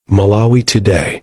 Malawi Today.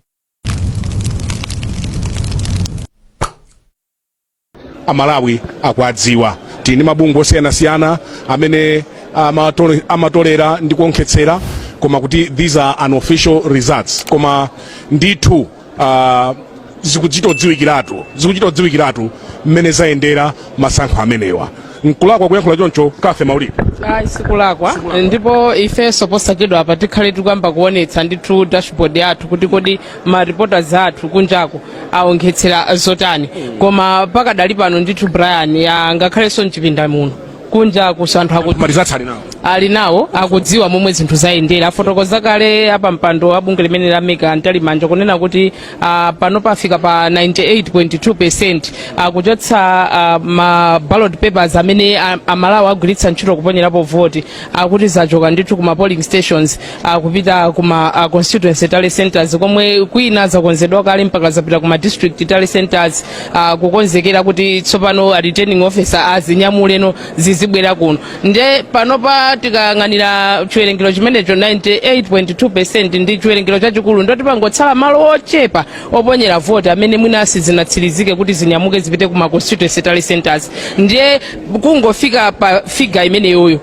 amalawi akuwadziwa tili ndi mabungwe osiyanasiyana amene amatole- amatolera ndi kuonkhetsera koma kuti these are unofficial results koma ndithu uh, zikuchita odziwikiratu zikuchita odziwikiratu mmene zayendera masankho amenewa nkulakwa kuyankhula choncho Cathy Maulidi ayi sikulakwa ndipo ifenso posachedwa apa tikhale tikuyamba kuonetsa ndithu dashboard yathu kuti kodi ma reporters athu kunjako aonkhetsera zotani koma pakadali pano ndithu Brian ya ngakhalenso mchipinda muno kunjakuso anthu aku- marizatsi ali nawo ali nawo akudziwa momwe zinthu zayendera afotokoza kale apampando a bungwe limene la MEC a Mtalimanja kunena kuti ah, pano pafika pa 98.2 percent akuchotsa ah, ma ballot papers amene ah, amalawi agwiritsa ntchito kuponyerapo voti akuti zachoka ndithu ku ma polling stations kupita kuma uh, constituency tally centers komwe kwina zakonzedwa kale mpaka zapita kuma district tally centers uh, kukonzekera kuti tsopano a returning officer azinyamuleno zizibwera kuno nde panopa tikayang'anira chiwerengero chimenecho 98.2 percent ndi chiwerengero chachikulu ndoti pangotsala malo ochepa oponyera voti amene mwina sizinatsirizike kuti zinyamuke zipite kuma constituency tally centers ndiye kungofika pa figa imeneyoyo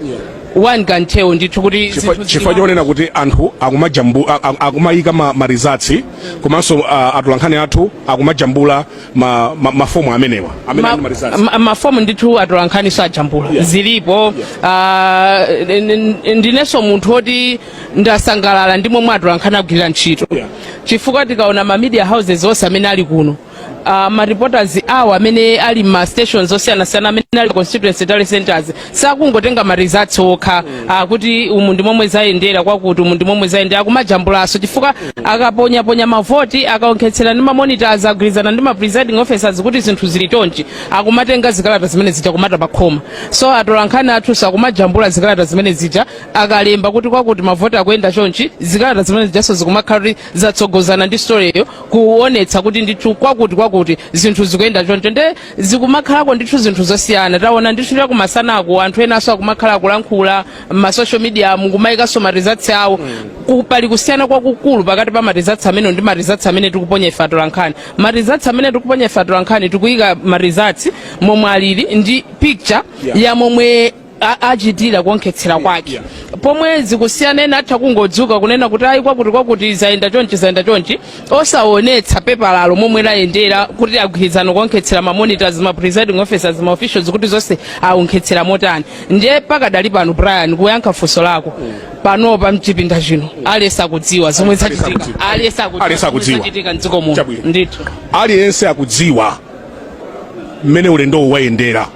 one can tell ndithu kuti Chifukwa- zinthu zili chifukwa bwanji. chonena kuti anthu akumajambu- a- a- akumayika ma- marizatsi komanso ah, atolankhani athu akumajambula ma- ma- mafomu amenewa amene ali Ma- marizatsi ma- mafomu ndithu atolankhaniso ajambula Yeah. zilipo Ah, n- n- ndinenso munthu oti ndasangalala ndi momwe atolankhani agwirira ntchito Yeah. chifukwa tikaona ma media houses onse amene ali kuno uh, ma reporters awo amene ali ma stations osiyanasiyana amene ali constituency tally centers sakungotenga ma results okha uh, kuti umu ndi momwe zayendera kwakuti umu ndi momwe zayendera akumajambulaso chifukwa akaponyaponya mavoti akaonkhetsera ndi mamonitors agwirizana ndi ma presiding officers kuti zinthu zili chonchi akumatenga zikalata zimene zija kumata pakhoma so atolankhani athuso akumajambula zikalata zimene zija akalemba kuti kwakuti mavoti akuyenda chonchi zikalata zimene zijaso zikumakhala kuti zatsogozana ndi storyyo kuonetsa kuti ndithu kwakuti kwakuti zinthu zikuyenda choncho nde zikumakhalako ndithu zinthu zosiyana taona ndithu chakumasanako anthu enanso akumakhala akulankhula m'masocial mediamu kumayikanso marizatsi awo Ku- pali kusiyana kwakukulu pakati pa marizatsi amene ndi marizatsi amene tikuponya ife atolankhani marizatsi amene tikuponya ife atolankhani tikuyika marizatsi momwe alili ndi picture Yeah. ya momwe a- achitira kuonkhetsera kwake pomwe zikusiyana ena atha kungodzuka kunena kuti ayi kwakuti kwakuti zayenda chonchi zayenda chonchi osaonetsa pepalalo momwe layendera kuti agwirizana kuonkhetsera mamonitors ma presiding officers ma officials kuti zonse aonkhetsera motani ndiye pakadali pano brian kuyankha funso lako panopa mchipinda chino aliyense akudziwa zomwe zachitika aliyense Aliyense akudziwa zomwe akudziwa. zachitika mdziko muno Chabwino. ndithu aliyense akudziwa mmene ulendowu wayendera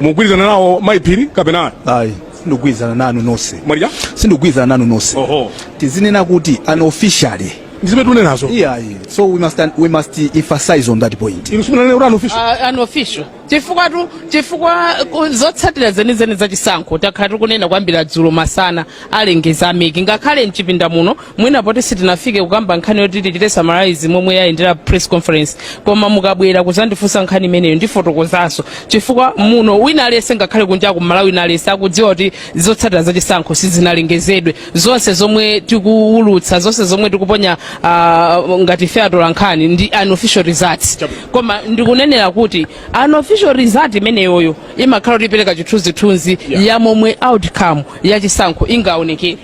mukugwirizana nawo mayi phiri kapena ayi sindikugwirizana nanu nonse Maria sindikugwirizana nanu nonse oho tizinena kuti unofficially ndizimene tikunenazo iyayi so we must, we must emphasize on that point inu simunanene kuti unofficial uh, unofficial chifukwa tu chifukwa ku- zotsatira zenizeni za chisankho takhala tikunena kwambiri dzulo masana alengeza ameki ngakhale mchipinda muno mwina poti sitinafike kukamba nkhani yoti tichite summarize momwe yayendera press conference koma mukabwera kuzandifunsa nkhani imeneyo ndifotokozanso chifukwa muno wina aliyense ngakhale kunja ku malawi wina aliyense akudziwa kuti zotsatira za chisankho sizinalengezedwe zonse zomwe tikuwulutsa zonse zomwe tikuponya ah, ngati ife atolankhani ndi unofficial results koma ndikunenera kuti unofficial result imeneyoyo imakhala kuti ipereka chithunzithunzi ya momwe outcome ya chisankho ingaonekere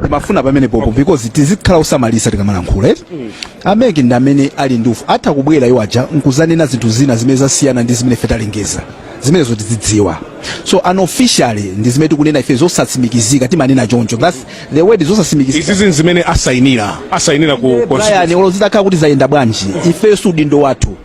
ndimafuna pamenepopo because tizikhala osamalitsa tikamalankhula eti mm. ameki ndi amene ali ndi ufu atha kubwera iwo aja nkuzanena zinthu zina zimene zasiyana ndi zimene ife talengeza zimenezo tizidziwa so unofficially ndi zimene tikunena ife zosatsimikizika timanena choncho that's the word zosatsimikizika izi zinthu zimene asainira asainira ku Brian olo zitakhala kuti zayenda bwanji ife si udindo wathu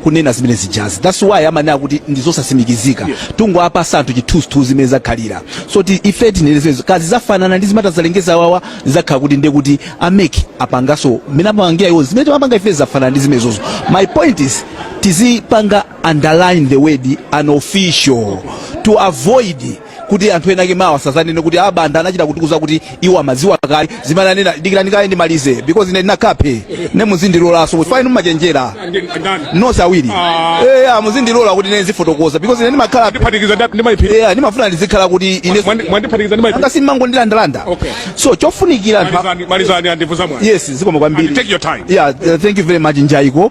kunena zimene zijazi that's why amanena kuti ndi zosasimikizika yeah. tungowapatsa anthu chithunzithunzi zimene zakhalira so ti ife tinenezezo kaya zafanana ndi zimene atazalengeze awawa zakhala kuti ndiye kuti ameki apangaso mmene amapangira iwo zimene timapanga ife zafanana ndi zimenezozo my point is tizipanga underline the word unofficial to avoid kuti anthu ena ake mawa asazanene kuti a banda anachita kutiuza kuti iwo amadziwa kale zimene anena dikirani kaye ndimalize because ine ndinakhape ne muzindilolanso fine mumachenjera nonse awiri Ah. eya muzindilola kuti ine ndizifotokoza because ine ndimakhala ndiphatikiza ndi- ndi mayiphiri eya ndimafuna ndizikhala kuti ine Mwandi- mwandiphatikiza ndi mayiphiri anga simumangondilandalanda Okay. so chofunikira anthu a- malizani malizani andivuza mwana yes zikomo kwambiri And take your time. yeah uh, thank you very much njaiko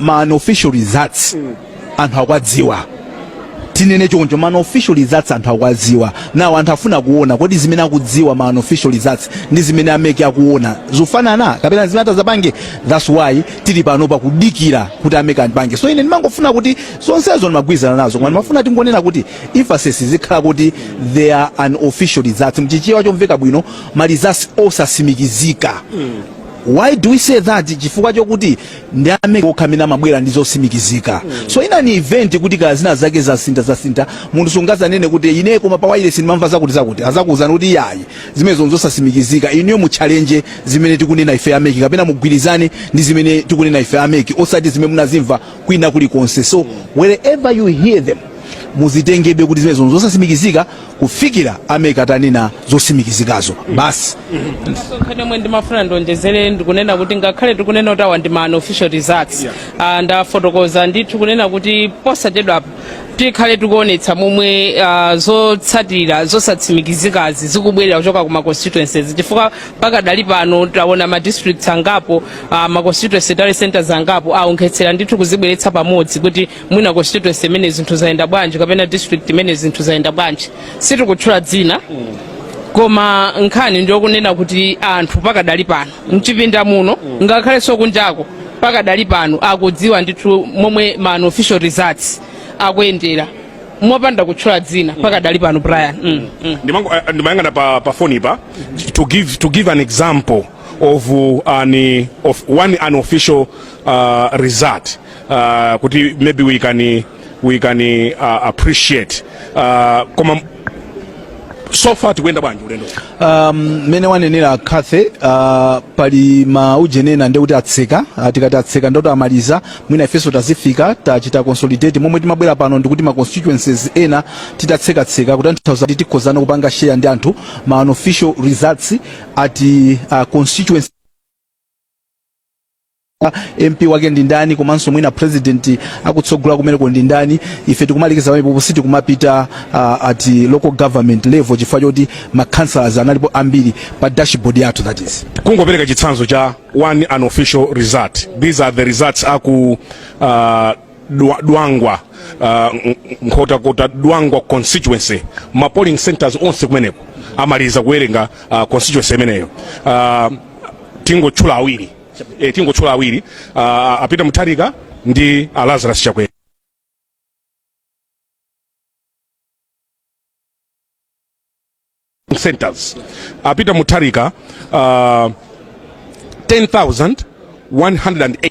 ma unofficial results anthu akuwadziwa tinene choncho ma unofficial results anthu akuwadziwa now anthu afuna kuona kodi zimene akudziwa ma unofficial results ndi zimene ameki akuona zofanana kapena zimene atazapange that's why tili pano pakudikira kuti ameki andipange so ine ndimangofuna kuti zonsezo ndimagwirizana nazo koma ndimafuna tingonena kuti emphasis zikhala kuti they are unofficial results mchichewa chomveka bwino ma results osasimikizika Why do we say that? Chifukwa chokuti ndi a MEC okha amene amabwera ndi zosimikizika. So in an event kuti kaya zina zake zasinta zasinta munthu sungazanene kuti ine koma pa wireless ndimamva zakuti zakuti azakuuzani kuti ayi zimenezo nzosasimikizika inuyo mu challenge zimene tikunena ife a MEC kapena mugwirizane ndi zimene tikunena ife a MEC osati zimene munazimva kwina kulikonse. So wherever you hear them muzitengebe kuti zimenezo nzosasimikizika kufikira a MEC atanena zosimikizikazo basi nkhani yomwe ndimafuna ndionjezere ndikunena kuti ngakhale tikunena kuti awa ndi ma unofficial results Ah, ndafotokoza ndithu kunena kuti posachedwapo tikhale tikuonetsa momwe ah, zotsatira zosatsimikizikazi zikubwerera kuchoka ku ma constituencies chifukwa pakadali pano taona ma districts angapo ah, ma constituency tally centers angapo aonkhetsera ndithu kuzibweretsa pamodzi kuti mwina constituency imene zinthu zayenda bwanji kapena district imene zinthu zayenda bwanji sitikutchula dzina koma nkhani ndiyokunena kuti anthu pakadali pano mchipinda muno ngakhalenso kunjako pakadali pano akudziwa ndithu momwe ma unofficial results akuyendera mopanda kutchula dzina pakadali pano Brian mm, mm. Ndimango- eh, ndimayang'ana pa, pa foni pa to give, to give an example of, uh, an, of one unofficial uh, result uh, kuti maybe we can, we can uh, appreciate uh, koma so far tikuyenda bwanji ulendo um, mene wanenera Cathy uh, pali maujenena ndi oti atseka uh, tikati atseka nde kuti amaliza mwina ifenso tazifika tachita consolidate momwe timabwera pano ndikuti ma constituencies ena titatsekatseka kutanthauza kuti tikhozana kupanga share ndi anthu ma unofficial results at uh, constituency MP wake ndi ndani komanso mwina president akutsogola kumeneko ndi ndani ife tikumalekeza pamenepo sitikumapita uh, at local government level chifukwa choti ma councillors analipo ambiri pa dashboard yathu that is kungopereka chitsanzo cha one unofficial result these are the results a ku uh, Dwa, Dwangwa uh, Nkhotakota Dwangwa constituency ma polling centers onse kumeneko amaliza kuwerenga uh, constituency imeneyo uh, tingotchula awiri e, tingotchula awiri uh, a Peter Mutharika ndi a Lazarus Chakwera centers a Peter Mutharika uh, 10108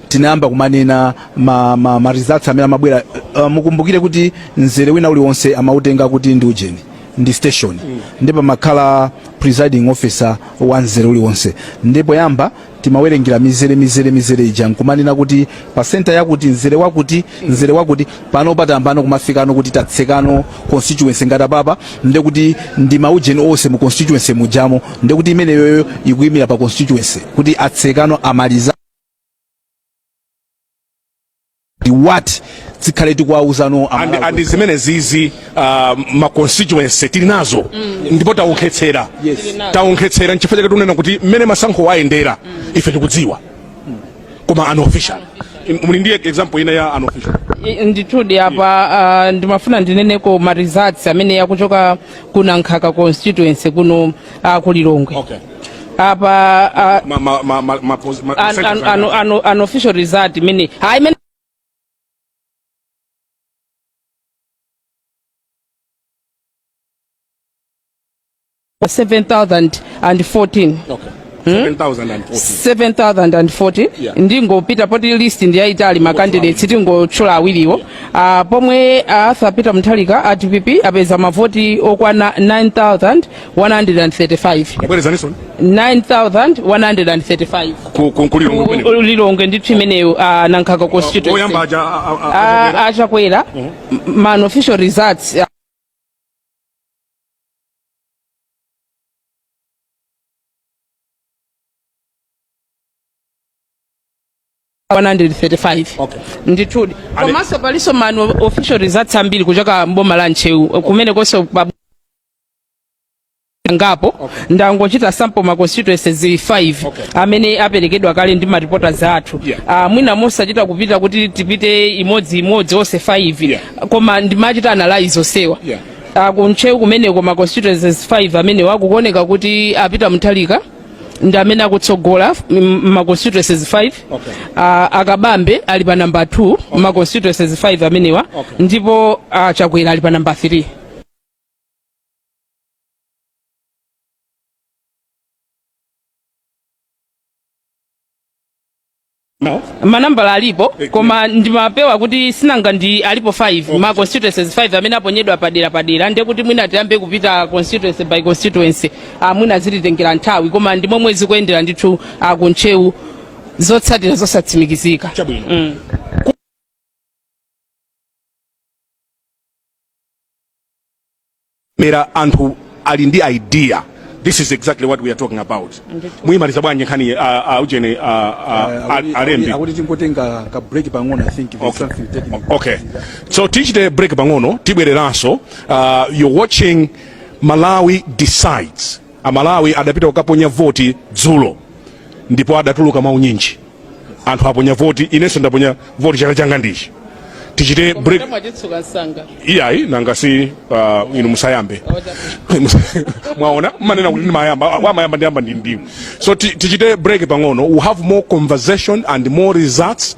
tinayamba kumanena ma, ma, ma results amene amabwera uh, mukumbukire kuti mzere wina uliwonse amautenga kuti ndi ujeni ndi station ndipo amakhala presiding officer wa mzere uliwonse ndipo poyamba timawerengera mizere mizere mizere ija nkumanena kuti pa senta yakuti mzere wakuti mzere wakuti pano patambano kumafikano kuti tatsekano constituency ngati apapa nde kuti ndi maujeni onse mu constituency mujamo nde kuti imeneyoyo ikuyimira pa constituency kuti atsekano amaliza what tizikhala tikuwauzano and zimenezizi uh, ma constituency tili nazo mm. ndipo taonkhetsera yes. taonkhetsera nchifukwa chake tikunena kuti mmene masankho ayendera mm. ife tikudziwa mm. koma unofficial muli ndi example ina ya unofficial ndithudi apa uh, ndimafuna ndineneko ma results amene akuchoka ku nankhaka constituency kuno uh, ku lilongwe okay. apa ah, ma, ma, ma, ma, ma, pos- ma, an, percentage an, zake. an, an, unofficial result imene hayi imene seven thousand and fourteen Okay. 7,014. 7014 Yeah. ndingopita poti list ndiyayitali makandidates tingotchula awiriwo Ah, pomwe ah, Arthur Peter Mutharika a dpp apeza mavoti okwana 9000 135 bwerezaninso 9135 ku- ku- ku lilongwe kumeneko. lilongwe ndithu imeneyo ah, nankhaka oyamba constituency aja a- a- a- Ah, a- achakwera m- ma unofficial results ah, Okay. ndithudi Ale- komanso palinso ma unofficial results ambiri kuchoka mboma la ntcheu kumenekonso pa angapo ndangochita sample ma constituencies 5 amene aperekedwa kale ndi ma reporters athu Ah, mwina mosachita kupita kuti tipite imodzi imodzi onse 5 koma ndimachita analyze onsewa Ah, kuntcheu kumeneko ma constituencies 5 amenewa kukuoneka kuti a Peter Mutharika ndi amene akutsogola mm, ma constituencies 5 Ah, a Kabambe ali pa namba 2 ma constituencies 5 amenewa ndipo ah, chakwera ali pa namba 3 manambala alipo koma ndimapewa kuti si nanga ndi alipo 5 ma constituencies 5 amene aponyedwa padera padera ndiye kuti mwina tiyambe kupita constituency by constituency ah, mwina zititengera nthawi koma ndi momwe zikuyendera ndithu ah, ku ntcheu zotsatira zosatsimikizika Chabwino. mm. mera anthu ali ndi idea this is exactly what we are talking about muyimaliza bwanji nkhani uh, uh, ujeni uh, uh, al- alembi akuti tingotenga ka break pang'ono i think there's something technical okay so tichite break pang'ono tibwereranso uh, you're watching malawi decides amalawi adapita kukaponya voti dzulo ndipo adatuluka mwaunyinji anthu aponya voti inenso ndaponya voti chala changa ndichi tichite break mwachitsuka msanga iyayi nanga si uh, inu musayambe mwaona manena kuti ndimayamba mwa- mumayamba ndiyamba ndi ndinu so ti- tichite break pang'ono we have more conversation and more results